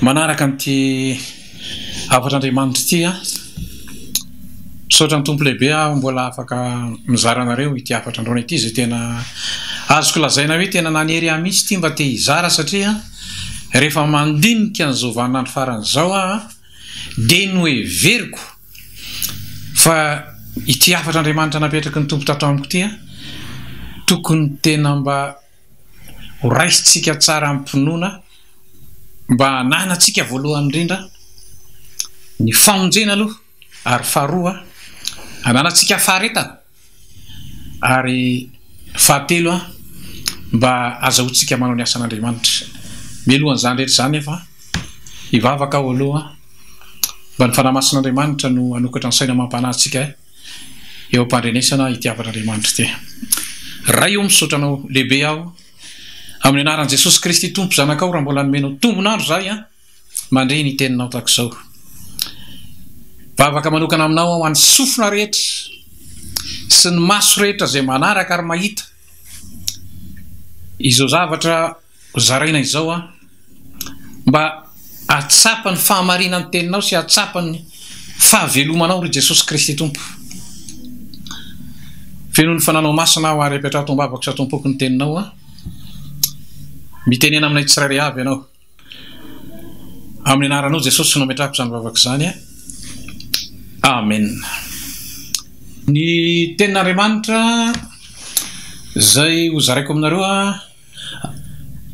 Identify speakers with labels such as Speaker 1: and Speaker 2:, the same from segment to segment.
Speaker 1: Manaraka an'ity hafatr'Andriamanitra ity aho. Misaotra ny Tompo lehibe aho mbola afaka mizara anareo ity hafatra androany ity izay tena azoko lazaina hoe tena nanery ahy mihitsy ity mba te hizara satria rehefa mandinika an'izao vaninandro farany izao aho dia noheveriko fa ity hafatr'Andriamanitra napetraky ny Tompo tato amiko ity tokony tena mba Ho raisintsika tsara amim-pinoana mba hananantsika voalohany indrindra ny famonjena aloha ary faharoa hananantsika faharetana ary fahatelo mba hazahoantsika manao ny asan'Andriamanitra. Mialoha an'izany rehetra izany nefa hivavaka aho aloha mba ny Fanahy Masin'Andriamanitra no hanokatra ny saina amam-panahintsika. eo am-pandrenesana hitiavan'Andriamanitra ity. Ray o, misaotra Anao lehibe aho, amin'ny anaran'i Jesosy Kristy Tompo Zanakao, raha mbola nomenao tombon'andro izahay an, mandre ny Teninao tahaka izao. Vavaka manokana Aminao aho, an'ny sofina rehetra, sy ny maso rehetra izay manaraka ary mahita izao zavatra. Hozaraina izao an! Mba hahatsapa ny fahamarinan'ny teninao sy hahatsapa ny fahavelomanao ry Jesosy Kristy Tompo. Feno ny fananao masina aho ary apetraho tombavako sa tompoko ny teninao an! Mitenena aminay tsirairay avy ianao. Amin'ny anaranao Jesosy no ametrahako izany vavaka izany an! Amen. Ny tenin'Andriamanitra izay hozaraiko aminareo an!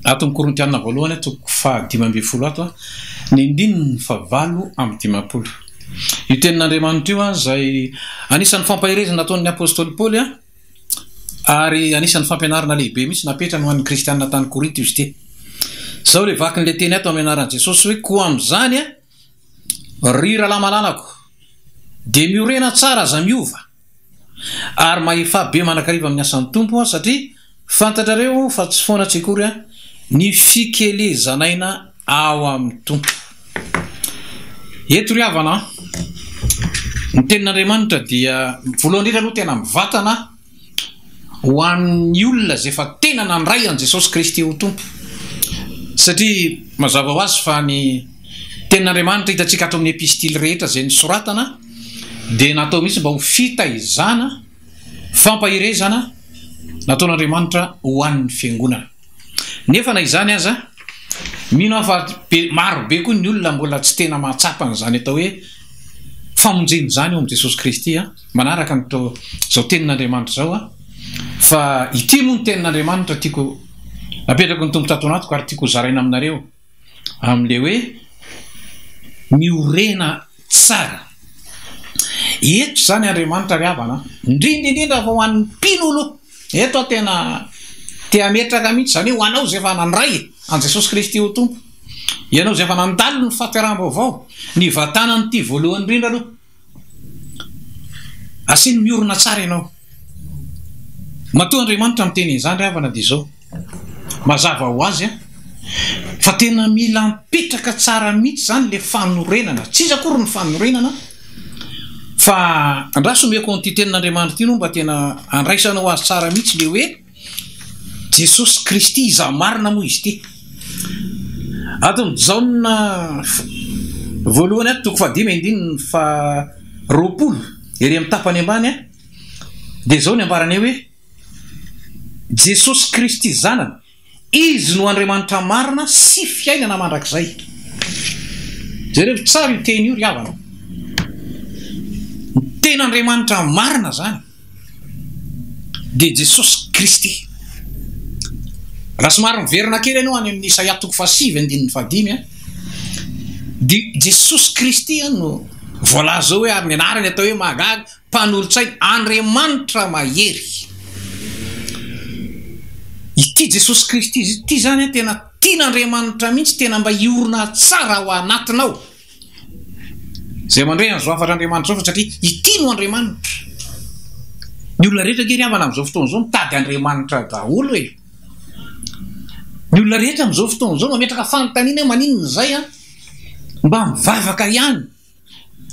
Speaker 1: Ato amin'ny Korintiana voalohany, toko faha dimy ambin'ny folo ato, ny andininy faha valo amby dimampolo. Io tenin'Andriamanitra io izay anisan'ny fampaherezana ataon'ny apostoly Paoly ary anisan'ny fampianarana lehibe mihitsy napetrany ho an'ny kristiana tany Korinto izy ity. Izao ilay vakin'ilay teny ato amin'ny anaran'i Jesosy hoe, Koa amin'izany, Ry Rahalahimalalako, dia miorena tsara aza miova, ary mahefà be mandrakariva amin'ny asan'ny Tompo aho, satria fantatrareo fa tsy foana tsy akory ny fikelezan'aina ao amin'ny Tompo. Eto ry havana an, ny tenin'Andriamanitra dia voalohany indrindra aloha tena mivantana, Ho an'ny olona izay efa tena nandray an'i Jesosy Kristy ho Tompo. Satria mazava ho azy fa ny Tenin'Andriamanitra hitantsika ato amin'ny Epistily rehetra izay nosoratana dia natao mihitsy mba ho fitaizana, fampaherezana nataon'Andriamanitra ho an'ny Fiangonana. Nefa na izany aza, mino aho fa maro be koa ny olona mbola tsy tena mahatsapa an'izany atao hoe famonjena izany ao amin'i Jesosy Kristy. Manaraka an'izao Tenin'Andriamanitra izao aho, fa ity moa ny Tenin'Andriamanitra tiako apetrako ny Tompo tato anatiko ary tiako hozaraina aminareo. amin'ilay hoe miorena tsara. Eto izany Andriamanitra ry havana, indrindra indrindra fa ho an'ny mpino aloha, eto aho tena te hametraka mihitsy izany hoe ho anao izay efa nandray an'i Jesosy Kristy ho Tompo, ianao izay efa nandalo ny fahateraham-baovao, nivantanan'ity voalohany indrindra aloha, Asiny miorina tsara ianao. Matoa Andriamanitra miteny an'izany ry havana dia izao, mazava ho azy fa tena mila mipetraka tsara mihitsy izany ilay fanorenana, tsy iza akory ny fanorenana fa andraso omeko an'ity tenin'Andriamanitra ity no mba tena andraisanao azy tsara mihitsy ilay hoe, Jesosy Kristy izaho marina moa izy ity. Ato amin'ny Jaona voalohany ato, toko fahadimy andininy faharoapolo, ery amin'ny tapany ambany, dia izao ny ambarany eo hoe, Jesosy Kristy Zanany, Izy no Andriamanitra marina sy fiainana mandrakizay. Jerevo tsara io teny io ry havana. Ny Tenin'Andriamanitra marina izany. dia Jesosy Kristy. Raha somary miverina kely ianao any amin'ny Isaia toko fahasivy andininy fahadimy dia Jesosy Kristy no voalaza hoe ary ny anarany atao hoe mahagaga, mpanolotsaina, Andriamanitra mahery. Ity Jesosy Kristy ity izany tena tian'Andriamanitra mihitsy, tena mba hiorina tsara ao anatinao. Izay mandre an'izao hafatr'Andriamanitra izao fa satria ity no Andriamanitra. Ny olona rehetra ange ry havana amin'izao fotoana izao mitady Andriamanitra daholo e. Ny olona rehetra amin'izao fotoana izao mametraka fanontaniana hoe maninona izay an? Mba mivavaka ihany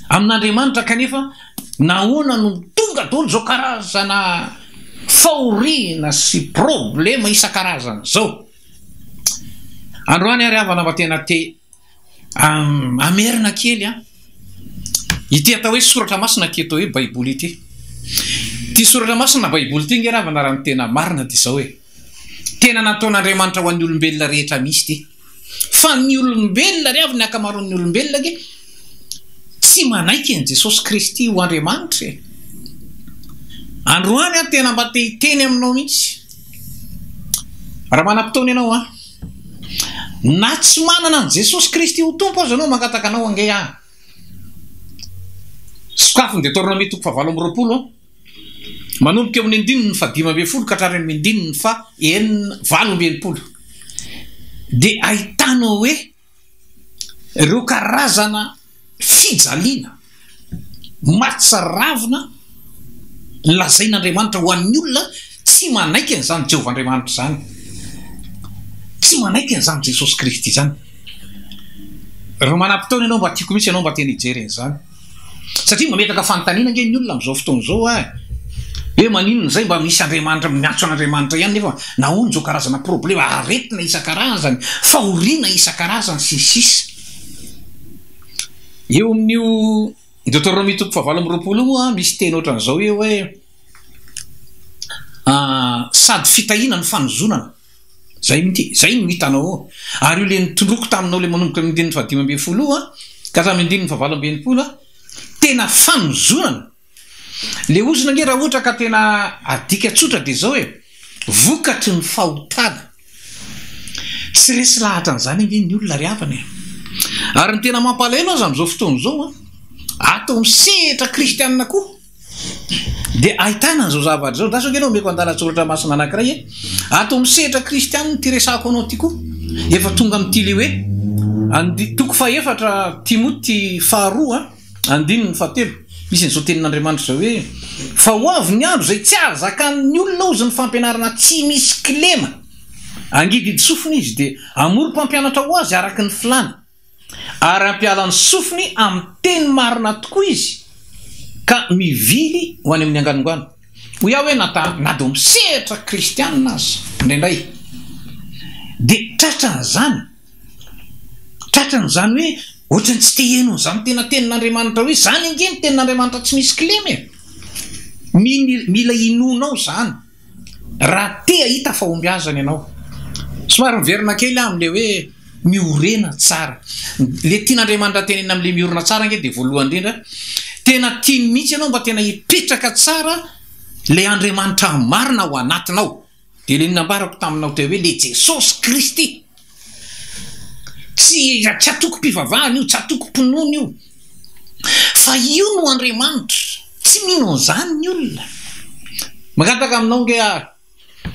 Speaker 1: amin'Andriamanitra kanefa nahoana no tonga daholo izao karazana fahoriana sy problema isan-karazany izao? Androany aho ry havana mba tena te Hamerina kely an! Ity atao hoe soratra masina ity atao hoe baiboly ity. Ity soratra masina na baiboly ity ange ravana raha ny tena marina dia izao e! Tena nataon'Andriamanitra ho an'ny olombelona rehetra misy ity. Fa ny olombelona ry havana, ny ankamaroan'ny olombelona ange tsy manaiky an'i Jesosy Kristy ho Andriamanitra e! Androany aho tena mba te hiteny aminao mihitsy. Raha manam-potoana ianao an! Na tsy manana an'i Jesosy Kristy ho Tompo aza ianao, mangataka anao ange aho. Sokafy ny Detornômia toko fahavalo amby roapolo, manomboka eo amin'ny andininy fahadimy ambin'ny folo ka hatrany amin'ny andininy faha enina, valo amby enimpolo. Dia ahitanao hoe. Ireo karazana fijaliana mahatsiravina lazain'Andriamanitra ho an'ny olona tsy manaiky an'izany Jehovah Andriamanitra izany, tsy manaiky an'izany Jesosy Kristy izany. Raha manam-potoana ianao mba tiako mihitsy ianao mba te-hijery an'izany. Satria mametraka fanontaniana ange ny olona amin'izao fotoana izao a, hoe maninona izay mba misy Andriamanitra, miantso an'Andriamanitra ihany nefa nahoana izao karazana problema, aretina isan-karazany, fahoriana isan-karazany sy ny sisa. Eo amin'io Deoteronomia toko fahavalo amby roapolo io moa misy teny ohatran'izao io hoe sady fitahiana no fanozonana. Zay minty, zay no hitanao eo, ary io le nitondroko taminao le manomboka amin'ny andininy fahadimy ambin'ny folo io ka hatramin'ny andininy fahavalo amby enimpolo, tena fanozonana, le ozona ange raha ohatra ka tena adika tsotra dia zao e, vokatry ny fahotana, tsy resy lahatra an'izany ange ny olona ry havana e, ary ny tena mampalahelo aza amin'izao fotoana izao an, ato amin'ny sehatra kristianina koa, Dia ahitana an'izao zavatra izao, andraso ange ianao omeko andalan-tsoratra masina anankiray e! Ato amin'ny sehatra kristianina ity resahako anao ity koa, efa tonga amin'ity ilay hoe, andidy toko fahefatra Timoty faharoa andininy fahatelo, misy an'izao tenin'Andriamanitra izao hoe, Fa ho avy ny andro izay tsy hahazakan'ny olona hozy ny fampianarana tsy misy kilema, hangididy sofina izy, dia hamory mpampianatra ho azy araka ny filàny. ary hampiala ny sofiny amin'ny teny marina tokoa izy ka mivily ho any amin'ny anganongano. Hoy aho hoe na ta, na dia misehatra kristiana aza indraindray dia tratran'izany, tratrany izany hoe ohatran'ny tsy te hihaino an'izany tena tenin'Andriamanitra hoe izany ange ny tenin'Andriamanitra tsy misy kilema e! Mila inoanao izany. Raha te hahita fahombiazana ianao, somary miverina kely aho amin'ilay hoe miorena tsara. Ilay tian'Andriamanitra tenenina amin'ilay miorina tsara ange dia voalohany indrindra, tena tiany mihitsy ianao mba tena hipetraka tsara ilay Andriamanitra marina ao anatinao. Dia ilay nambarako taminao teo hoe ilay Jesosy Kristy. Tsy tsy antokom-pivavahana io, tsy antokom-pinoana io, fa io no Andriamanitra. Tsy mino an'izany ny olona. Mangataka aminao ange aho,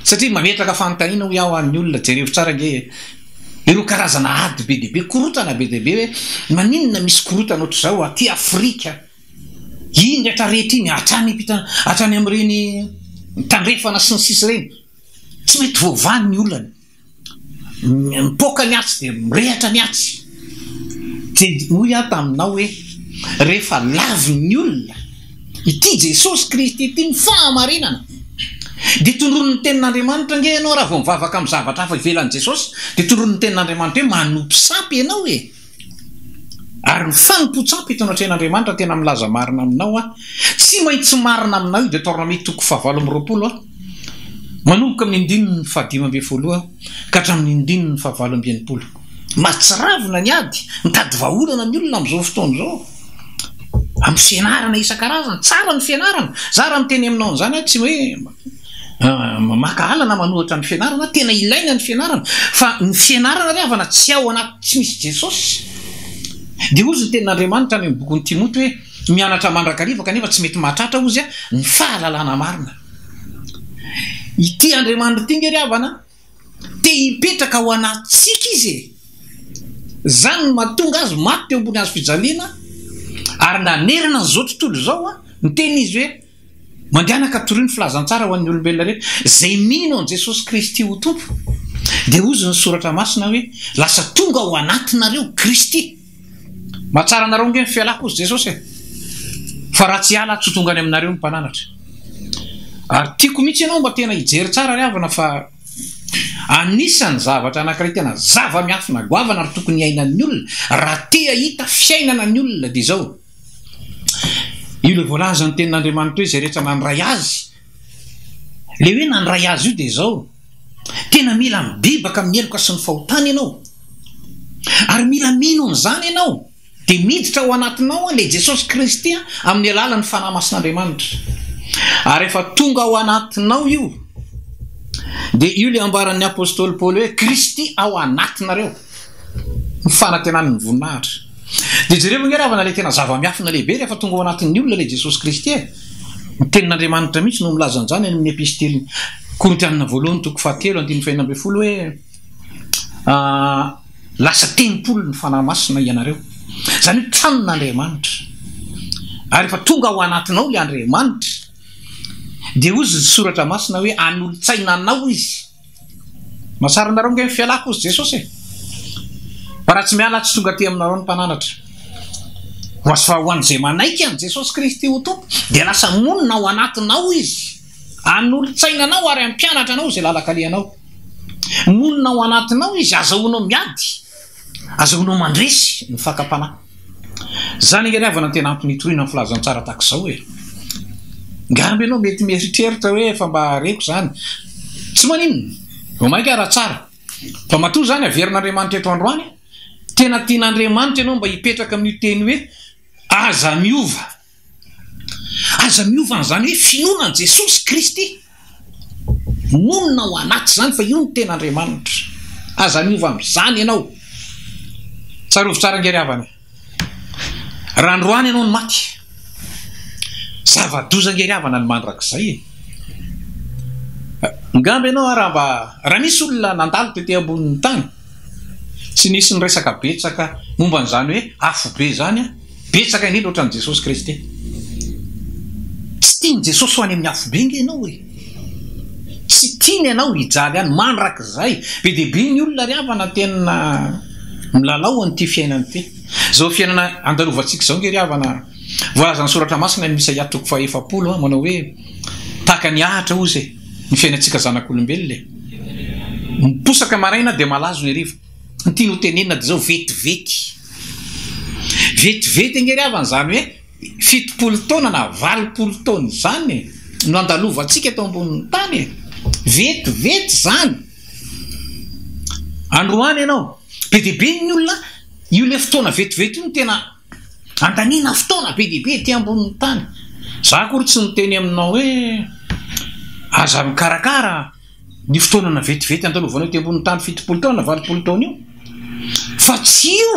Speaker 1: satria mametraka fanontaniana hoy aho ny olona, jerevo tsara ange ireo karazana ady be dia be, korontana be dia be hoe maninona misy korontana ohatr'izao aty Afrika. Iny rehetra rehetra iny, hatrany ampita, hatrany amin'ireny Tandrefana sy ny sisa ireny. Tsy mety voavaha ny olana. Mipoaka ny atsy dia mirehatra ny atsy. Dia hoy aho taminao hoe, rehefa lavin'ny olona ity Jesosy Kristy ity, ny fahamarinana, dia tondroin'ny Tenin'Andriamanitra ange ianao raha vao mivavaka amin'ny zavatra hafa ivelan'i Jesosy, dia tondroin'ny Tenin'Andriamanitra hoe, manompo sampy ianao e! Ary ny fanompoan-tsampy eto anatrehan'Andriamanitra tena milaza marina aminao aho, tsy maintsy marina aminao io Deoteronomia toko fahavalo amby roapolo, manomboka amin'ny andininy fahadimy ambin'ny folo ka hatramin'ny andininy fahavalo amby enimpolo. Mahatsiravina ny ady, mitady vahaolana ny olona amin'izao fotoana izao, amin'ny fianarana isan-karazany. Tsara ny fianarana, zara miteny aminao an'izany aho, tsy hoe. Maka alana manohatra ny fianarana, tena ilaina ny fianarana fa ny fianarana ry havana tsy ao anaty tsy misy Jesosy dia hozy ny tenin'Andriamanitra any amin'ny bokin'i Timoty hoe mianatra mandrakariva kanefa tsy mety mahatratra hozy ny fahalalana marina. Ity Andriamanitra ity nge ry havana te hipetraka ao anatintsika izy e! Izany no mahatonga azy maty teo ambony hazo fijaliana ary nanerana an'izao tontolo izao ny tenin'izy hoe. Mandianaka torio ny filazantsara ho an'ny olombelona rehetra. Izay mino an'i Jesosy Kristy ho Tompo, dia hozy ny Soratra Masina hoe, Lasa tonga ao anatinareo Kristy. Mahatsara anareo ange ny fialako hozy Jesosy e! Fa raha tsy hiala aho tsy ho tonga any aminareo ny Mpananatra. Ary tiako mihitsy ianao mba tena hijery tsara ry havana fa anisan'ny zavatra anankiray tena zava-miafina goavana ary tokony hiainan'ny olona raha te hahita fiainana ny olona dia izao, Io ilay voalazan'ny tenin'Andriamanitra hoe izay rehetra nandray Azy. Ilay hoe nandray Azy io dia izao, tena mila mibebaka amin'ny heloka sy ny fahotana ianao, ary mila mino an'izany ianao, dia miditra ao anatinao ilay Jesosy Kristy amin'ny alalan'ny Fanahy Masin'Andriamanitra. Ary rehefa tonga ao anatinao io, dia io ilay ambaran'ny Apostoly Paoly hoe, Kristy ao anatinareo. Ny fanantenany ny voninahitra. Dia jereo anie ravana ilay tena zava-miafina lehibe rehefa tonga ao anatin'ny olona ilay Jesosy Kristy e! Ny tenin'Andriamanitra mihitsy no milaza an'izany any amin'ny Epistiliny Korintianina voalohany toko fahatelo andininy fahenina ambin'ny folo hoe lasa tempolin'ny Fanahy Masina ianareo. Izany hoe tranon'Andriamanitra. Ary rehefa tonga ao anatinao ilay Andriamanitra dia hoy ny soratra masina hoe hanolo-tsaina anao izy. Mahatsara anareo ange ny fialako hozy Jesosy e! Fa raha tsy miala tsy tonga aty aminareo ny mpananatra hoazy fa ho an'izay manaiky an'i Jesosy Kristy ho Tompo dia lasa monina ao anatinao Izy hanolotsaina anao ary hampianatra anao izay lalan-kalehanao. Monina ao anatinao Izy, azahoanao miady. Azahoanao mandresy ny fakam-panahy. Izany ange ry havana no tena antony hitoriana ny filazantsara tahaka izao e! Ngamba ianao mety mieritreritra hoe efa mba reko izany. Tsy maninona, vao mainka raha tsara. Fa matoa izany averin'Andriamanitra eto androany, tena tian'Andriamanitra ianao mba hipetraka amin'io teny hoe aza miova. Aza miova an'izany hoe finoana an'i Jesosy Kristy. Monina ao anaty izany fa io no tena Andriamanitra. Aza miova amin'izany ianao. Tsarovy tsara ange ry havana. Raha androany ianao no maty, zava-doza ange ry havana ny mandrakizay e. Angamba ianao ara mba, raha nisy olona nandalo tety ambonin'ny tany, Tsy nisy niresaka betsaka momba an'izany hoe afobe izany an! Betsaka indrindra ohatran'i Jesosy Kristy. Tsy tian'i Jesosy ho any amin'ny afobe ange ianao e! Tsy tiany ianao hijaly any mandrakizay! Be dia be ny olona ry havana tena milalao an'ity fiainana ity. Izao fiainana andalovantsika izao ange ry havana, voalazan'ny Soratra Masina any Isaia toko faha efapolo manao hoe, Tahaka ny ahitra hozy e! Ny fiainantsika zanak'olombelona e! Miposaka maraina dia malazo ny hariva. Ny tiany ho tenenina dia izao, vetivety. Vetivety ange ry havana, izany hoe fitopolo taona na valopolo taona izany no andalovantsika eto ambonin'ny tany e! Vetivety izany. Androany ianao, be dia be ny olona, io ilay fotoana vetivety io no tena. Andaniana fotoana be dia be ety ambonin'ny tany. Izaho akory tsy niteny aminao hoe aza mikarakara an'io fotoanana vetivety andalovanao ety ambonin'ny tany fitopolo taona na valopolo taona io. Fa tsy io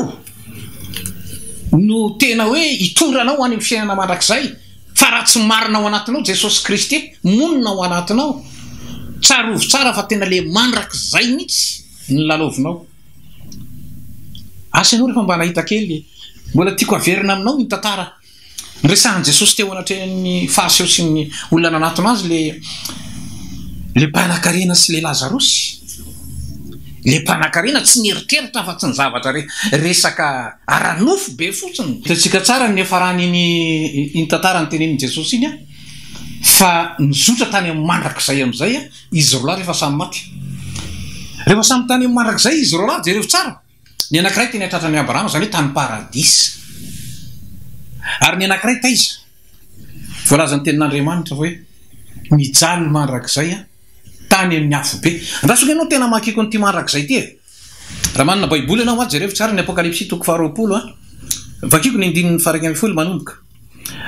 Speaker 1: no tena hoe hitondra anao ho any amin'ny fiainana mandrakizay. Fa raha tsy marina ao anatinao Jesosy Kristy monina ao anatinao, tsarovy tsara fa tena ilay mandrakizay mihitsy no lalaovinao. Asa ianao rehefa mba nahita kely. Mbola tiako haverina aminao iny tantara niresahan'i Jesosy teo anatrehan'ny Fariseo sy ny olona nanatona azy le le mpanakarena sy le Lazarosy. Le mpanakarena tsy nieritreritra afa tsy ny zavatra re resaka ara-nofo be fotsiny. Hitantsika tsara ny niafaran'iny iny tantara nitenenin'i Jesosy iny fa nizotra tany amin'ny mandrakizay amin'izay Izy roalahy rehefa samy maty. Rehefa samy tany amin'ny mandrakizay izy roalahy, jereo tsara, ny anankiray teny an-tratran'i Abrahama, izany hoe tany paradisa. Ary ny anankiray taiza? Voalaza ny tenin'Andriamanitra hoe, Mijaly mandrakizay aho, tany amin'ny afobe. Andraso anie ianao tena mankiko an'ity mandrakizay ity e! Raha manana Baiboly ianao an, jereo tsara ny Apokalypsy toko faharoapolo an. Vakiko ny andininy faharaika ambin'ny folo manomboka.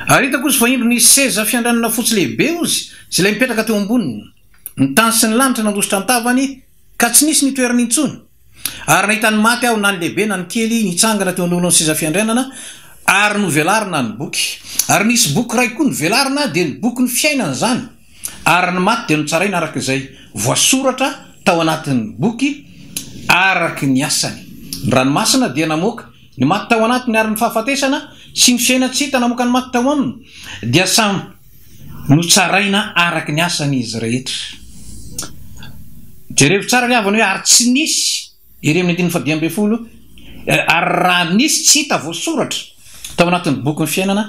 Speaker 1: Ary hitako ozy fa indro nisy seza fiandranana fotsy lehibe ozy sy ilay mipetraka teo amboniny. Ny tany sy ny lanitra nandositra an-tavany ka tsy nisy ny toerany intsony. Ary nahita ny maty aho na ny lehibe na ny kely nitsangana teo anoloan'ny seza fiandrianana ary novelarina ny boky. Ary nisy boky iray koa novelarina dia ny boky ny fiainana izany. Ary ny maty dia notsaraina araka izay voasoratra tao anatin'ny boky araka ny asany. Ny ranomasina dia namoaka ny maty tao anatiny ary ny fahafatesana sy ny fiainan-tsy hita namoaka ny maty tao aminy dia samy notsaraina araka ny asany izy rehetra. Jerevo tsara ry havana hoe ary tsy nisy Ery amin'ny andininy fahadimy ambin'ny folo, Ary raha nisy tsy hita voasoratra tao anatin'ny bokin'ny fiainana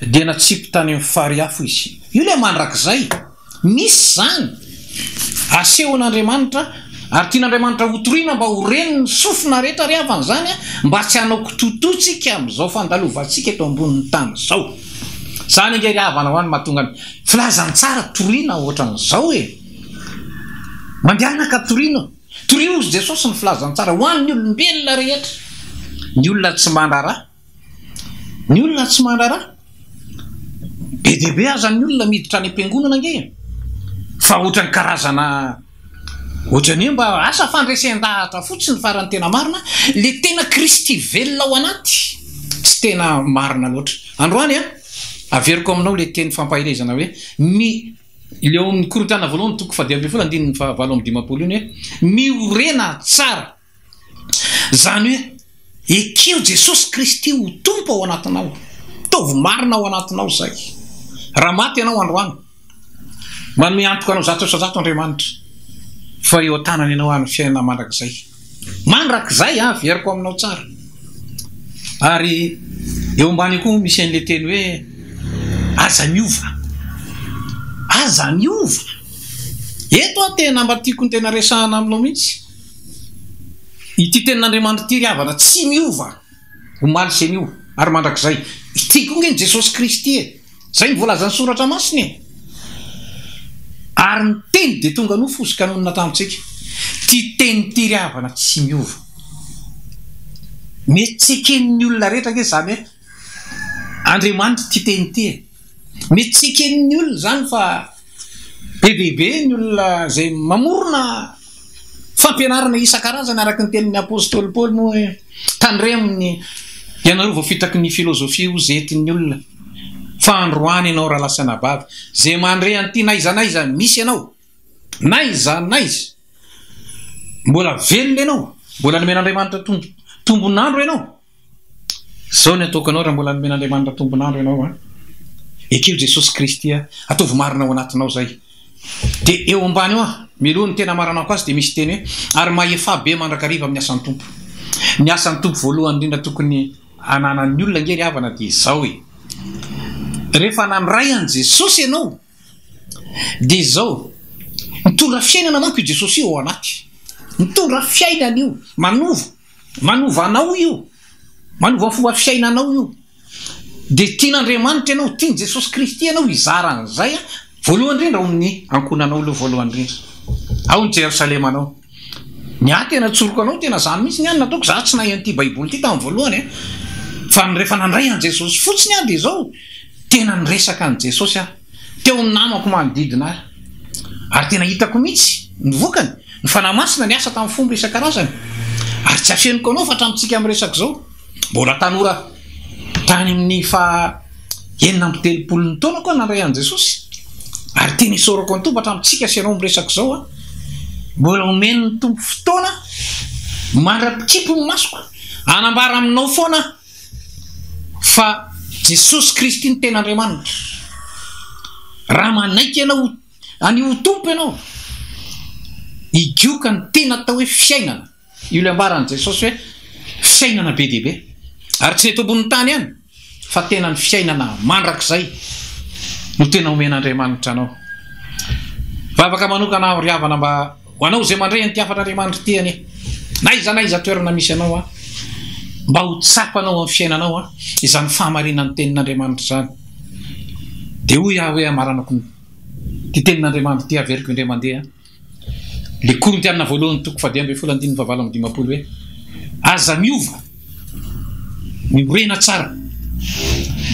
Speaker 1: dia natsipy tany amin'ny fary afo izy. Io ilay mandrakizay. Misy izany. Asehon'Andriamanitra ary tian'Andriamanitra hotorina mba ho ren'ny sofina rehetra ary havany izany mba tsy hanao kitototsika amin'izao fandalovantsika eto ambonin'ny tany izao. Izany ange ry havana ho any mahatonga ny filazantsara toriana ohatran'izao e. Mandianaka toriana. Torio hozy Jesosy ny filazantsara ho an'ny olombelona rehetra, ny olona tsy mandraraha, ny olona tsy mandraraha, be dia be aza ny olona miditra any am-piangonana ange e! fa ohatran'ny karazana ohatry ny hoe mba asa fandresen-dahatra fotsiny fa raha ny tena marina le tena kristy velona ao anaty tsy tena marina loatra. Androany an! averiko aminao le teny fampaherezana hoe ny Ilay ao amin'ny Korontana Voalohany toko faha dimy ambin'ny folo andininy faha valo amby dimampolo iny hoe, Miorena tsara, izany hoe, ekeo Jesosy Kristy ho Tompo ao anatinao, ataovy marina ao anatinao izay. Raha maty ianao androany, manome antoka anao zato isa zato Andriamanitra fa eo an-tanany ianao ary ny fiainana mandrakizay. Mandrakizay an, averiko aminao tsara. Ary eo ambany eo koa misy an'ilay teny hoe aza miova. Aza miova. Eto an, tena mba tiako ny tena resahana aminao mihitsy. Ity tenin'Andriamanitra ity ry havana, tsy miova. Omaly sy anio ary mandrakizay. Ity koa nge ny Jesosy Kristy e! Zay no voalazan'ny Soratra Masina e! Ary ny Teny dia tonga nofo sy ka nonina tamintsika. Ty Teny ity ry havana tsy miova. Mety tsy eken'ny olona rehetra nge zany hoe Andriamanitra ity Teny ity e! Mety tsy eken'ny olona zany fa be dia be ny olona zay mamorona Fampianarana isan-karazany araka ny tenin'ny apostoly Paoly moa hoe, Tandremo ny ianareo vao fitaky ny filozofia ho zetin'ny olona, fa androany ianao raha lasa anabavy, izay mandre an'ity n'aiza n'aiza misy ianao, n'aiza n'aiza, mbola velona ianao, mbola nomen'Andriamanitra tombon'andro ianao. Zao ny ataoko anao raha mbola nomen'Andriamanitra tombon'andro ianao an! Ekeo Jesosy Kristy a! Ataovy marina ao anatinao zay! Dia eo ambany eo an! Mialoha ny tena hamaranako azy dia misy teny hoe, ary mahefà be mandrakariva amin'ny asan'ny Tompo. Ny asan'ny Tompo voalohany indrindra tokony hananan'ny olona ange ry havana dia izao e! Rehefa nandray an'i Jesosy ianao dia izao, mitondra fiainana manko io Jesosy io ao anaty, mitondra fiainana io, manova. Manova anao io, manova ny fomba fiainanao io. Dia tian'Andriamanitra ianao, tian'i Jesosy Kristy ianao hizara an'izay, voalohany indrindra ao amin'ny ankohonanao aloha voalohany indrindra, ao amin'ny Jerosalemanao. Ny ahy tena tsoriko anao, tena izany mihitsy ny ahy no nataoko, izaho tsy nahay an'ity Baiboly ity tamin'ny voalohany an! Fa ny rehefa nandray an'i Jesosy fotsiny aho dia izao, tena niresaka an'i Jesosy aho. Teo ny namako manodidina ahy, ary tena hitako mihitsy ny vokany. Ny Fanahy Masina niasa tamin'ny fomba isan-karazany, ary tsy afeniko anao fa hatramintsika miresaka izao, mbola tanora aho. Tany amin'ny faha enina amby telopolo ny taonako aho nandray an'i Jesosy, ary tena isaorako ny Tompo hatramintsika sy ianao miresaka izao aho. Mbola omen'ny Tompo fotoana mandra-pikipy ny masoko hanambara aminao foana aho. Fa Jesosy Kristy no tena Andriamanitra. Raha manaiky ianao Any ho Tompo ianao, higioka ny tena atao hoe fiainana. Io ilay ambaran'i Jesosy hoe fiainana be dia be. Ary tsy ny eto ambonin'ny tany ihany, fa tena ny fiainana mandrakizay no tena omen'Andriamanitra anao. Vavaka manokana aho ry havana mba. Ho anao izay mandray an'ity hafatr'Andriamanitra ity anie, n'aiza n'aiza toerana misy anao an, mba ho tsapanao amin'ny fiainanao an, izany fahamarinan'ny tenin'Andriamanitra izany. Dia hoy aho hoe amaranako ny ity tenin'Andriamanitra ity averiko indray mandeha an, le Korintiana voalohany toko fahadimy ambin'ny folo andininy fahavalo amby dimampolo hoe, aza miova, miorena tsara,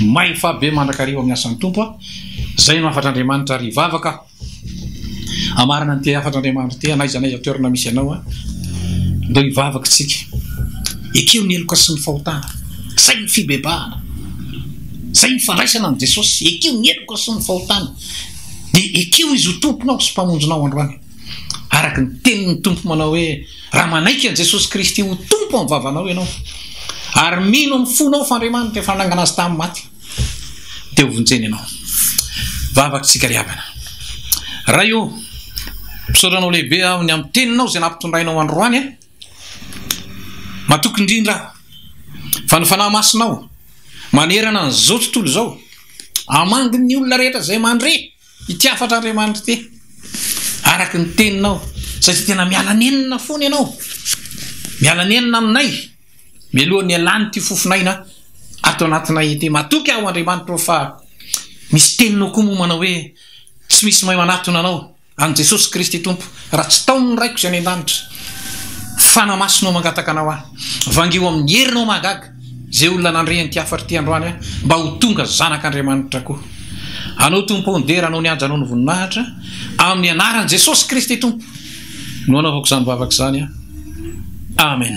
Speaker 1: mahefa be mandrakariva amin'ny asan'ny Tompo an, izay no hafatr'Andriamanitra ary hivavaka aho. Hamarana ny te hafatra Andriamanitro te hanaiza anay ao toerana misy anao aho ndao hivavaka isika ekeo ny heloka sy ny fahotana zay ny fibebahana zay ny fandraisana an'i Jesosy ekeo ny heloka sy ny fahotana de ekeo izy ho tomponao sy mpamonjinao androany araka ny tenin'ny tompo manao hoe raha manaiky an'i Jesosy Kristy ho tompo amin'ny vavanao ianao ary mino amin'ny fonao fa Andriamanitra efa nanangana azy tamin'ny maty dia hovonjena ianao. Vavaka isika ary havana. Ray ô, misaotra Anao lehibe aho ny amin'ny Teninao izay nampitondrainao androany ahy. Matoky indrindra aho fa ny Fanahy Masinao manerana an'izao tontolo izao hamangy ny olona rehetra izay mandre. Ity hafatra Andriamanitra ity araka ny teninao satria tena miala nenina foana ianao miala nenina aminay mialoha ny alany ity fofonaina ato anatinay ity matoky aho Andriamanitra fa misy teninao koa moa manao hoe tsy misy mahay manatona anao an'i Jesosy Kristy Tompo raha tsy tao ny raiko izay any an-danitra fanamasinao mangataka anao aho vangio amin'ny herinao mahagaga Izay olona nandre an'ity hafatra ity androany aho, mba ho tonga zanak'Andriamanitra koa. Anao Tompo ô, ny dera, anao ny haja, anao ny voninahitra, amin'ny anaran'i Jesosy Kristy Tompo no anaovako izany vavaka izany aho. Amen.